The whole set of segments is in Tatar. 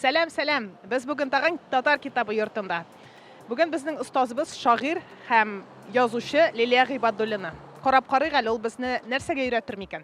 Сәлам, сәлам. Без бүген тагын татар китабы йортында. Бүген безнең остазыбыз шагыйр һәм язучы Лилия Гыйбадуллина. Карап карыйк әле ул безне нәрсәгә өйрәтер микән?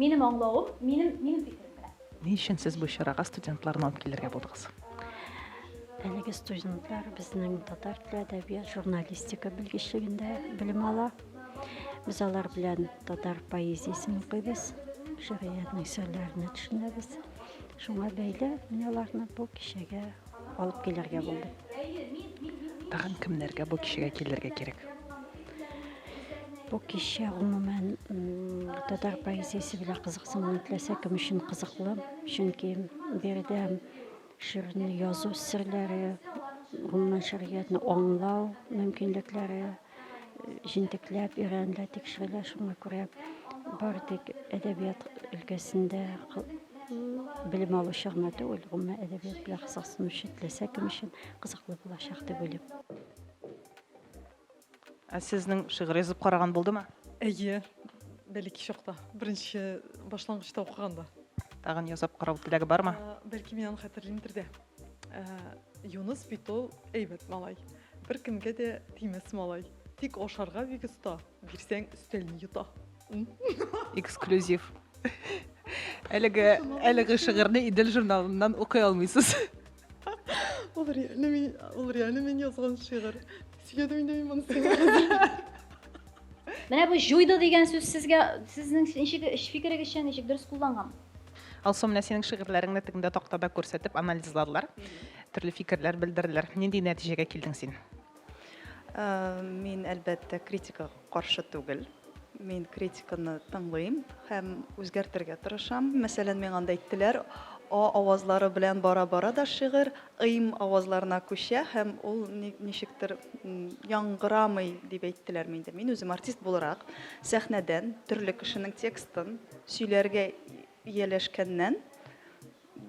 Минем аңлавым, минем, минем фикерем белән. Ни өчен сез бу чарага студентларны алып килергә булдыгыз? Әлеге студентлар безнең татар теле әдәбият журналистика белгечлегендә белем ала. Без алар белән татар поэзиясен укыйбыз, шигъриятнең серләренә төшенәбез. Шуңа бәйле мин аларны бу кичәгә алып килергә булды. Тагын кемнәргә бу кичәгә килергә кирәк? Бу кичә гомумән татар поэзиясе белән кызыксынмый теләсә кем өчен кызыклы, чөнки биредә шигырьне язу серләре, гомумән шигъриятне аңлау мөмкинлекләре, җентекләп өйрәнелә тикшерелә шуңа күрә бары тик әдәбият өлкәсендә белем алучы гына түгел гомумән әдәбият белән кызыксынучы теләсә кем өчен кызыклы булачак дип уйлыйм ә сезнең шигырь язып караган булдымы әйе бәләкәй чакта беренче башлангычта укыганда тагын ясап карау теләге бармы бәлки мин аны хәтерлимдер дә Ә, Юныс бит ул әйбәт малай. Бер кемгә дә тимәс малай. Тик ашарга бик оста. Бирсәң өстәлне йота. Эксклюзив. Әлеге әлеге шигырьне Идел журналыннан укый алмыйсыз. Ул реально мин, ул реально мин язган шигырь. Сөйләдем инде мин моны сиңа. Менә бу җуйды дигән сүз сезгә сезнең ничек фикерегезчә ничек дөрес кулланган? Алсу, менә синең шигырьләреңне тегендә тактада күрсәтеп анализладылар. Төрле фикерләр белдерделәр. Нинди нәтиҗәгә килдең син? Ә, мин әлбәттә критика каршы түгел. Мин критиканы тыңлыйм һәм үзгәртергә тырышам. Мәсәлән, миңа анда әйттеләр, а авазлары белән бара-бара да шигырь Ым авазларына күчә һәм ул ничектер яңгырамый дип әйттеләрме инде. Мин үзем артист буларак сәхнәдән төрле кешенең текстын сөйләргә ияләшкәннән,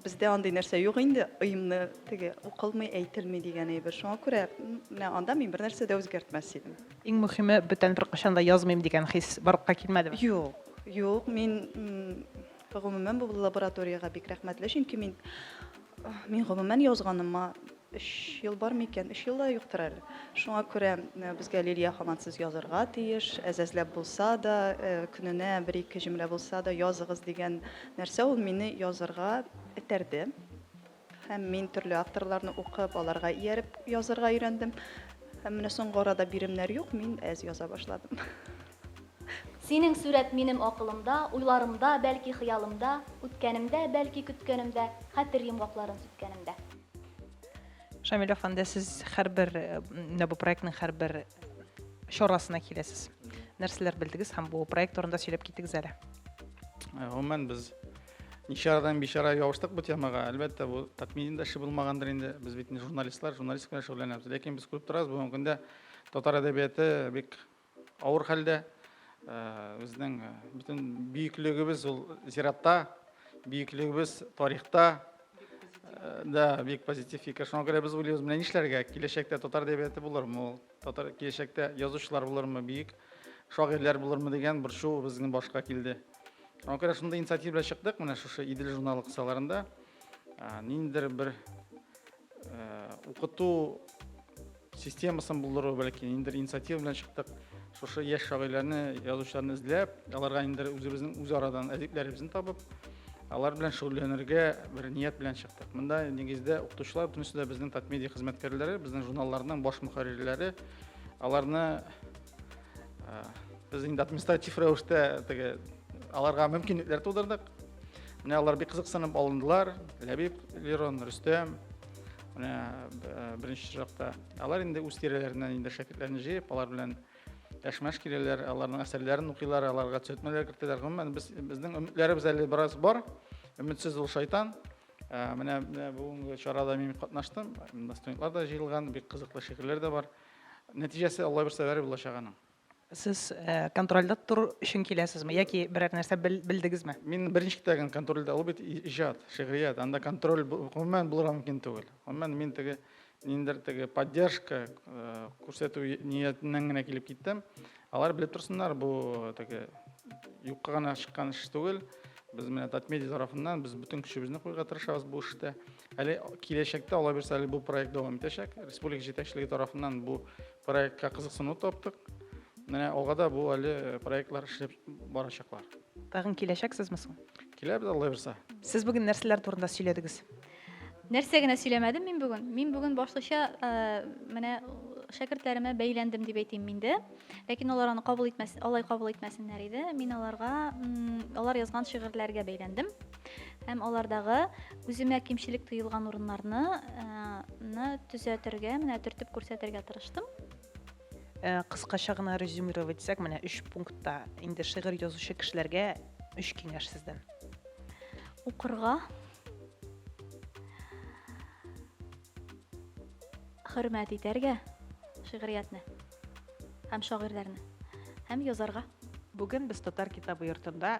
бездә андый нәрсә юк инде, ымны теге укылмый, әйтелми дигән әйбер. Шуңа күрә менә анда мин бернәрсә дә үзгәртмәс идем. Иң мөхиме, бүтән беркайчан да язмыйм дигән хис барлыкка килмәдеме? Юк, юк, мин Гомумән, бу лабораториягә бик рәхмәтле, чөнки мин, мин гомумән язганыма өч ел бар микән? Өч ел да юктыр әле. Шуңа күрә э, безгә Лилия хамансыз язырга тиеш, әзәзләп булса да, э, көненә бер-ике җөмлә булса да языгыз дигән нәрсә ул мине язырга этәрде. Һәм мин төрле авторларны укып, аларга ияреп язырга өйрәндем. Һәм менә соңгы арада биремнәр юк, мин әз яза башладым. Синең сурәт минем акылымда, уйларымда, бәлки хыялымда, үткәнемдә, бәлки көткәнемдә, хәтер йомгакларын сүткәнемдә. Шамил әфәнде, сез һәрбер менә бу проектның һәрбер чарасына киләсез. Нәрсәләр белдегез һәм бу проект турында сөйләп китегез әле. Гомумән без Ничарадан бичара ябыштык бу темага. Әлбәттә, бу тәкъминин дә эше булмагандыр инде. Без бит не журналистлар, журналистика белән шөгыльләнәбез. Ләкин без күреп торабыз, бүгенге көндә татар әдәбияты бик авыр хәлдә. Э, безнең э, бөтен бөеклегебез ул зиратта, бөеклегебез тарихта. Э, да, бик позитив фикер. Шуңа күрә без уйлыйбыз, менә нишләргә? Киләчәктә татар әдәбияты булырмы ул? Татар киләчәктә язучылар булырмы бөек? Шагыйрьләр булырмы дигән борчу безнең башка килде. Аңа күрә шундый инициатива белән чыктык, менә шушы Идел журналы кысаларында ниндидер бер укыту системасын булдыру, бәлки ниндидер инициатива белән чыктык. Шушы яшь шагыйрьләрне, язучыларны эзләп, аларга ниндидер үзебезнең үз арадан әдипләребезне табып, алар белән шөгыльләнергә бер ният белән чыктык. Монда нигездә укытучылар, бөтенесе дә безнең Татмедиа хезмәткәрләре, безнең журналларның баш мөхәррирләре, аларны Без инде административ рәвештә теге аларга мөмкинлекләр тудырдык. Менә алар бик кызыксынып алындылар. Ләбиб, Лерон, Рөстәм. Менә беренче чиратта алар инде үз тирәләреннән инде шәкертләрне җыеп, алар белән әшмәш киләләр, аларның әсәрләрен укыйлар, аларга төзәтмәләр кертәләр. Гомумән без безнең өметләребез әле бераз бар. Өметсез ул шайтан. Менә бүгенге чарада мин катнаштым. Студентлар да җыелган, бик кызыклы шигырьләр дә бар. Нәтиҗәсе Алла бирсә бәреп булачак аның. Сез контрольдә тору өчен киләсезме яки берәр нәрсә белдегезме? Мин беренче китәгән контрольдә, ул бит иҗат, шигърият, анда контроль гомумән булырга мөмкин түгел. Гомумән мин теге ниндер теге поддержка күрсәтү ниятеннән генә килеп киттем. Алар белеп торсыннар, бу теге юкка гына чыккан эш түгел. Без менә Татмедиа тарафыннан без бөтен көчебезне куярга тырышабыз бу эштә. Әле киләчәктә алай булса, әле бу проект дәвам итәчәк. Республика җитәкчелеге тарафыннан бу проектка кызыксыну таптык. Менә алга да бу әле э, проектлар эшләп барачаклар. Тагын киләчәксезме соң? Киләбез алай булса. Сез бүген нәрсәләр турында сөйләдегез? Нәрсә генә сөйләмәдем мин бүген. Мин бүген башлыча э, менә шәкертләремә бәйләндем дип әйтим мин дә. Ләкин алар аны кабул итмәс, алай кабул итмәсеннәр иде. Мин аларга, алар язган шигырьләргә бәйләндем. һәм алардагы үземә кимчелек тоелган урыннарны э, төзәтергә менә төртеп күрсәтергә тырыштым э, кыскача гына резюмировать итсәк менә өч пунктта инде шигырь язучы кешеләргә өч киңәш сездән укырга хөрмәт итәргә шигъриятне һәм шагыйрьләрне һәм язарга Бүген без Татар китабы йортында